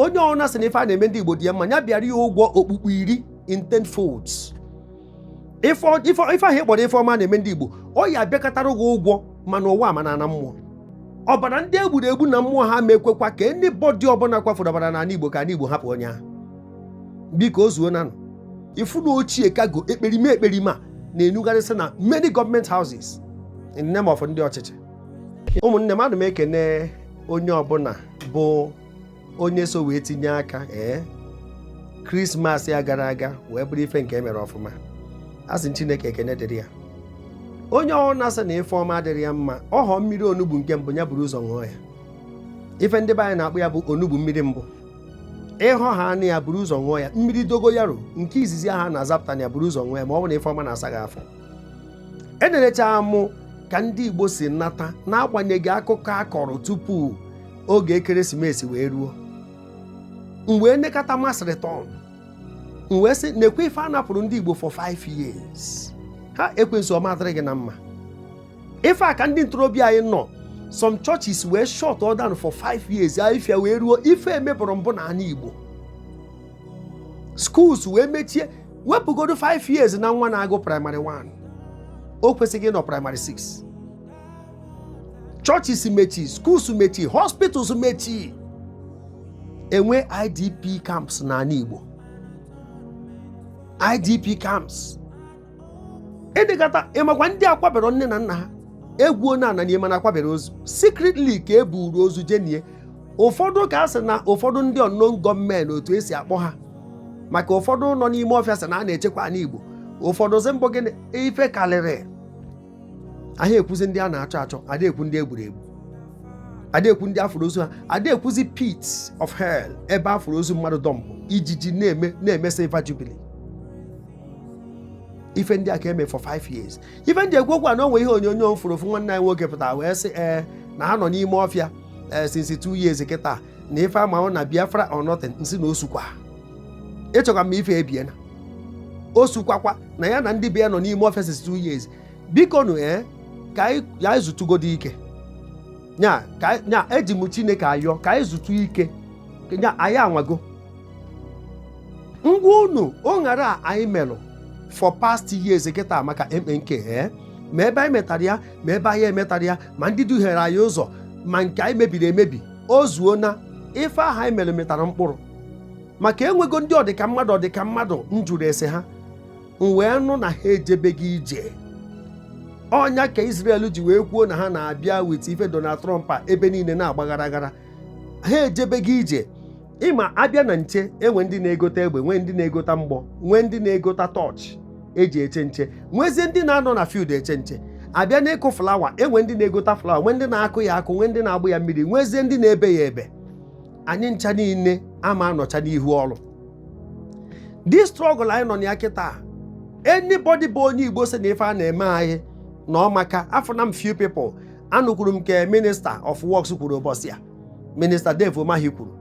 onye ọbụna sị na ife a na-eme ndị Igbo dị ya mma ya bịara ya ụgwọ okpukpu iri in ten folds ife ahụ ị kpọrọ ife ọma na-eme ndị Igbo ọ ya-abịakọtara gị ụgwọ ma n'ụwa ma na mmụọ ọbara ndị egburu egbu na mmụọ ha ma ekwekwa ka anybody ọbụla kwafuru ọbara n'ala Igbo ka ala Igbo hapụ onye ahụ biko o zuonanụ ifu na ochie kago ekperima ekperima na-enugharịsị na many government houses in the name of ndị ọchịchị ụmụnne m ana m ekene onye ọbụla bụ onye so wee tinye aka ee krismas a gara aga wee bụrụ ife nke emere ọfụma a sị chineke ekene dịrị ya onye ọbụna sị na ife ọma adịrị ya mma ọhọ mmiri onugbu nke mbụ ya buru ụzọ ṅụọ ya ife ndị be anyị na-akpọ ya bụ onugbu mmiri mbụ ịhọ ha anụ ya buru ụzọ ṅụọ ya mmiri dogoyaro nke izizi aha a na-azapụta na ya buru ụzọ ṅụọ ya ma ọ bụ na ife ọma na-asa gị afọ enerecha m ka ndị Igbo si nata n'agbanyeghị akụkọ a kọrọ tupu oge ekeresimesi wee ruo m wee nekata mass return m wee sị nekwe ife a napụrụ ndị Igbo for 5 years ha ekwensu ọ ma adịrị gị na mma ife a ka ndị ntorobịa anyị nọ some churches wee shut all down for 5 years ife a wee ruo ife emebụrụ mbụ na ana Igbo schools wee mechie wepụgodo 5 years na nwa na-agụ primary 1 o kwesịghị ịnọ primary 6 churches mechi schools mechi hospitals mechi enwe idp camps n'ana igbo idp camps ị dịkata ịmakwa ndị akwabere nne na nna ha egwuo ana nie mana akwabere ozu secretly ka e buru ozu je nie ụfọdụ ka a sị na ụfọdụ ndị unknown gunmen otu esi akpọ ha maka ụfọdụ nọ n'ime ọfịa sị na a na-echekwa ana Igbo ụfọdụ sị mbụ gịnị ife karịrị ada ekwuzi ndị a na-achọ achọ ada ekwu ndị egburu egbu ada ekwu ndị afụrụ ozu ha ada ekwuzi pit of hell ebe afụrụ ozu mmadụ dọmpụ ijiji na-eme silver jubilee ife ndị a ka eme for five years ife m ji ekwu okwu a na o nwe ihe onyonyo m fụrụ ofu nwanne anyị nwoke pụtara wee sị ee eh, na ha nọ n'ime ọfịa eh, since two years kịta na ife ha ma ọ na biafra or nothing m sị na osukwa ị chọkwa m ife ebie na osukwakwa na ya na ndị be ya nọ n'ime ọfịa since two years biko nụ ee ka anyị ya anyị zutugodo ike nya ka anyị- nya eji m chineke ayọ ka anyị zutu ike nya anyị anwago ngwa unu o ṅara a anyị melụ for past years kịta maka mnk ee ma ebe anyị metara ya ma ebe anyị emetara ya ma ndị duhiere anyị ụzọ ma nke anyị mebiri emebi o zuona ife aha anyị mere mịtara mkpụrụ maka enwego ndị ọdịka mmadụ ọdịka mmadụ m jụrụ ese ha m wee nụ na ha ejebeghị ije ọ nya ka Israel ji wee kwuo na ha na-abịa with ife Donald Trump a ebe niile na-agbaghara aghara ha ejebeghị ije ịma abịa na nche enwe ndị na-egota egbe nwee ndị na-egota mgbọ nwee ndị na-egota tọọchị eji eche nche nwezie ndị na-anọ na field eche nche abịa n'ịkụ flawa enwe ndị na-egota flawa nwee ndị na-akụ ya akụ nwee ndị na-agba ya mmiri nwezie ndị na-ebe ya ebe anyị ncha niile ama anọcha n'ihu ọrụ the struggle anyị nọ na ya kịta anybody bụ onye Igbo sị na ife a na-eme anyị na ọ maka afụna m few people anụkwuru m nke minister of works kwuru ụbọchị a minista Dave Umahi kwuru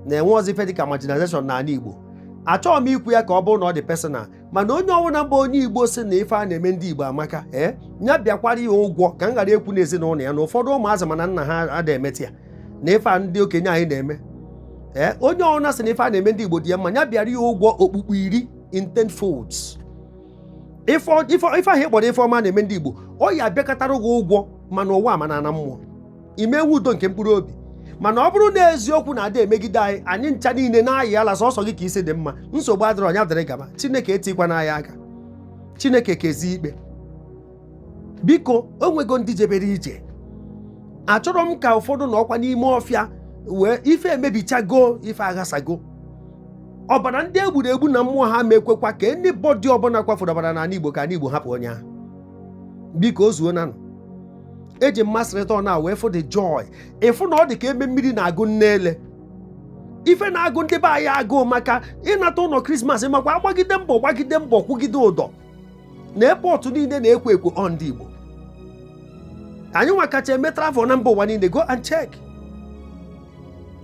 na enwerọzi ife dịka marginalization n'ala Igbo achọghị m ikwu ya ka ọ bụrụ na ọ dị personal mana onye ọbụla bụ onye Igbo sị na ife a na-eme ndị Igbo amaka ee eh, ya bịakwara ya ụgwọ ka m ghara ekwu na ezinụlọ ya na ụfọdụ ụmụazị mana nna ha ada emeti ya na ife a ndị okenye anyị na-eme ee eh, onye ọbụla sị na ife a na-eme ndị Igbo dị ya mma ya bịara ya ụgwọ okpukpu iri in ten folds ife ahụ ị kpọrọ ife ọma na-eme ndị Igbo ọ ya-abịakọtara gị ụgwọ ma n'ụwa ma na mmụọ ị ma-enwe udo nke mkpụrụ obi mana ọ bụrụ na eziokwu na ada emegide anyị anyị ncha niile na-ayị ala sọsọ gị ka isi dị mma nsogbu adịrọ nya dịrị gaba chineke etikwana nya aka chineke kezi ikpe biko o nwego ndị jebere ije achọrọ m ka ụfọdụ nọkwa n'ime ọfịa wee ife emebichago ife aghasago ọbara ndị egburu egbu na mmụọ ha ma ekwekwa ka anybody ọbụla kwafuru ọbara n'ala Igbo ka ala Igbo hapụ onye ahụ biko o zuona nụ eji mmasị rịta ọ na wee fụ the joy ị fụ na ọ dị ka ebe mmiri na-agụ nne ele ife na-agụ ndị be anyị agụụ maka ịnata ụnọ krismas makwa agbagide mbọ gbagide mbọ kwụgide ụdọ na airport niile na-ekwo ekwo ọ ndị Igbo anyị nwa kacha eme travel na mba ụwa niile go and check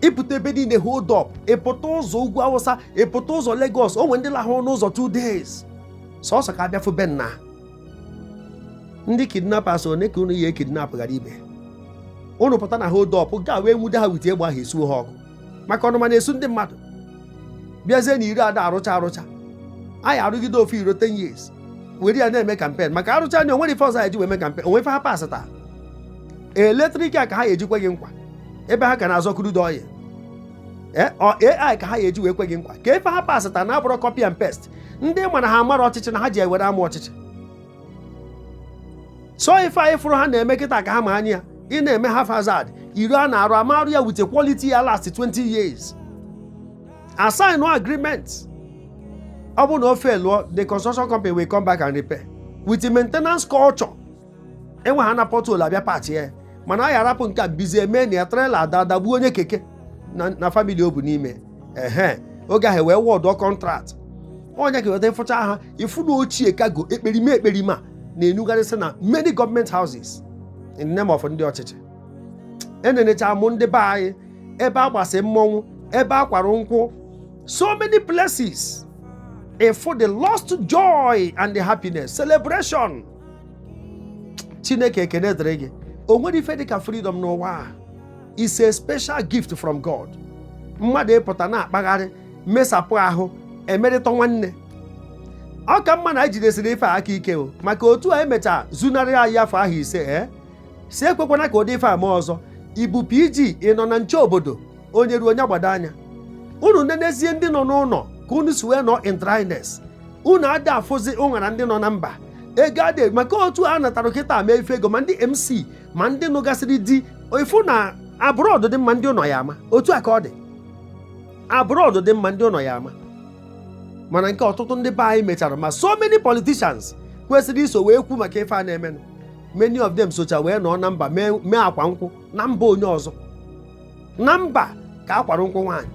ị pụta ebe niile hold up ị pụta ụzọ ugwu Awụsa ị pụta ụzọ Lagos o nwere ndị lahụ n'ụzọ two days sọsọ ka a bịa fụ be nna ndị kidnappers one ka unu ya-ekidnap ghara ibe unu pụta na hold up ga wee nwude ha with egbe ahụ esuo ha ọkụ maka ọnụma na-esu ndị mmadụ bịazie na iro ada arụcha arụcha anyị arụgide ofu iro 10 years were ya na-eme kampen maka arụcha nya o nwere ife ọzọ anyị ji wee mee kampen o nwe ife ha pasị taa electric a ka ha eji kwe gị nkwa ebe ha ka na-azọ crude oil AI ka ha ya-eji wee kwe gị nkwa ka ife ha pasịta na-abụrụ copy and paste ndị ma na ha amarọ ọchịchị na ha ji ewere ama ọchịchị so ife anyị fụrụ ha na-eme kịta ka ha ma anya ị na-eme haphazard iro a na-arụ a ma-arụ ya with quality ya last 20 years a sign agreement ọ bụ na o failụọ the construction company will come back and repair with maintenance culture enwe ha na pothole abịa patch ya mana a ya arapụ nke a bizie mee na ya trailer ada adagbuo onye keke na family ọ bụ n'ime ehe oge ahụ e wee awọdụọ contract onye ka weta ịfụcha ha ịfụ na ochie kago ekperima ekperima na-enugharịsị na many gọọmenti houses in name of ndị ọchịchị enenecha mụ ndị be anyị ebe a gbasị mmọnwụ ebe a kwara nkwụ so many places ịfụ the lost joy and the happiness celebration chineke ekene dịrị gị o nwerọ ife dịka freedom n'ụwa a is a special gift from god mmadụ ịpụta na-akpagharị mesapụ ahụ emerịta nwanne ọ ka mma na anyị jidesiri ife a aka ike o maka otu a emechaa zunarị anyị afọ ahụ ise ee eh? sị ekwekwana ka ụdị ife a mee ọzọ ị bụ PG ị nọ na nche obodo onye ruo onye gbado anya unu nenezie ndị nọ n'ụnọ ka unu si wee nọ in dryness unu adị afụzi ụṅara ndị nọ na mba ego adị maka otu a natara kịta mee ife ego ma ndị MC ma ndị nụgasịrị di ịfụ na abroad dị mma ndị ụnọ ya ama otu a ka ọ dị abroad dị mma ndị ụnọ ya ama mana nke ọtụtụ ndị be anyị mechara ma so many politicians kwesịrị iso wee kwu maka ife a na-emenụ many of them socha wee nọ na mba mee akwa nkwụ na mba onye ọzọ na mba ka a kwara nkwụ nwaanyị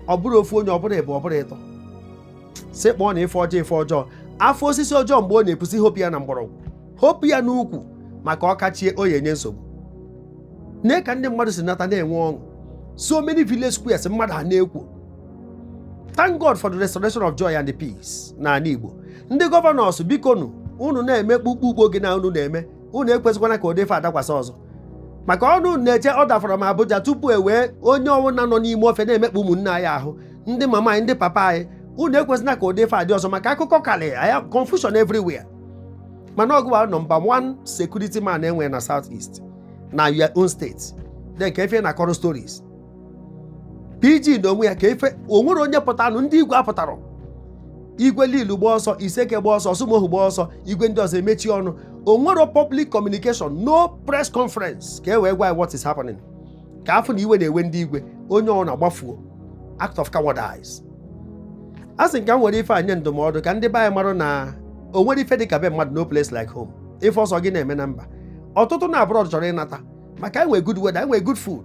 ọ bụrụ ofu onye ọ bụrụ ịbụọ ọ bụrụ ịtọ si kpọọ na ife ọjọọ ife ọjọọ a fụ osisi ọjọọ mgbe ọ na-epusi hopu ya na mgbọrọgwụ hopu ya n'ukwu maka ọ kachie ọ ya-enye nsogbu nee ka ndị mmadụ si nata na-enwe ọṅụ so many village squares mmadụ ana-ekwo thank God for the restoration of joy and peace n'ala Igbo ndị governors bikonụ unu na-eme kpukpu ugbo gị na unu na-eme unu ekwezikwana ka ụdị ife a dakwasị ọzọ maka unu na-eche order from Abuja tupu e wee onye ọwụna nọ n'ime ọfịa na-emekpa ụmụnne anyị ahụ ndị mama anyị ndị papa anyị unu ekwezina ka ụdị ife a dị ọzọ maka akụkọ karịa confusion everywhere mana ọ gịwa bụ number 1 security man e nwere na South East na your own state then ka efe na kọrọ stories PG na onwe ya ka ife o nwerọ onye pụtanụ ndị igwe apụtarọ igwe Lilu gba ọsọ Iseke gba ọsọ Orsumoghu gba ọsọ igwe ndị ọzọ emechi ọnụ o nwerọ public communication no press conference ka e wee gwa what is happening ka a fụ na iwe na-ewe ndị igwe onye ọ na-agbafuo act of cowardice a sị ka m were ife a nye ndụmọdụ ka ndị be anyị marụ na o nwerọ ife dị ka be mmadụ no place like home ife ọ sọ gị na-eme na mba ọtụtụ na abroad chọrọ ịnata maka enwe good weather enwe good food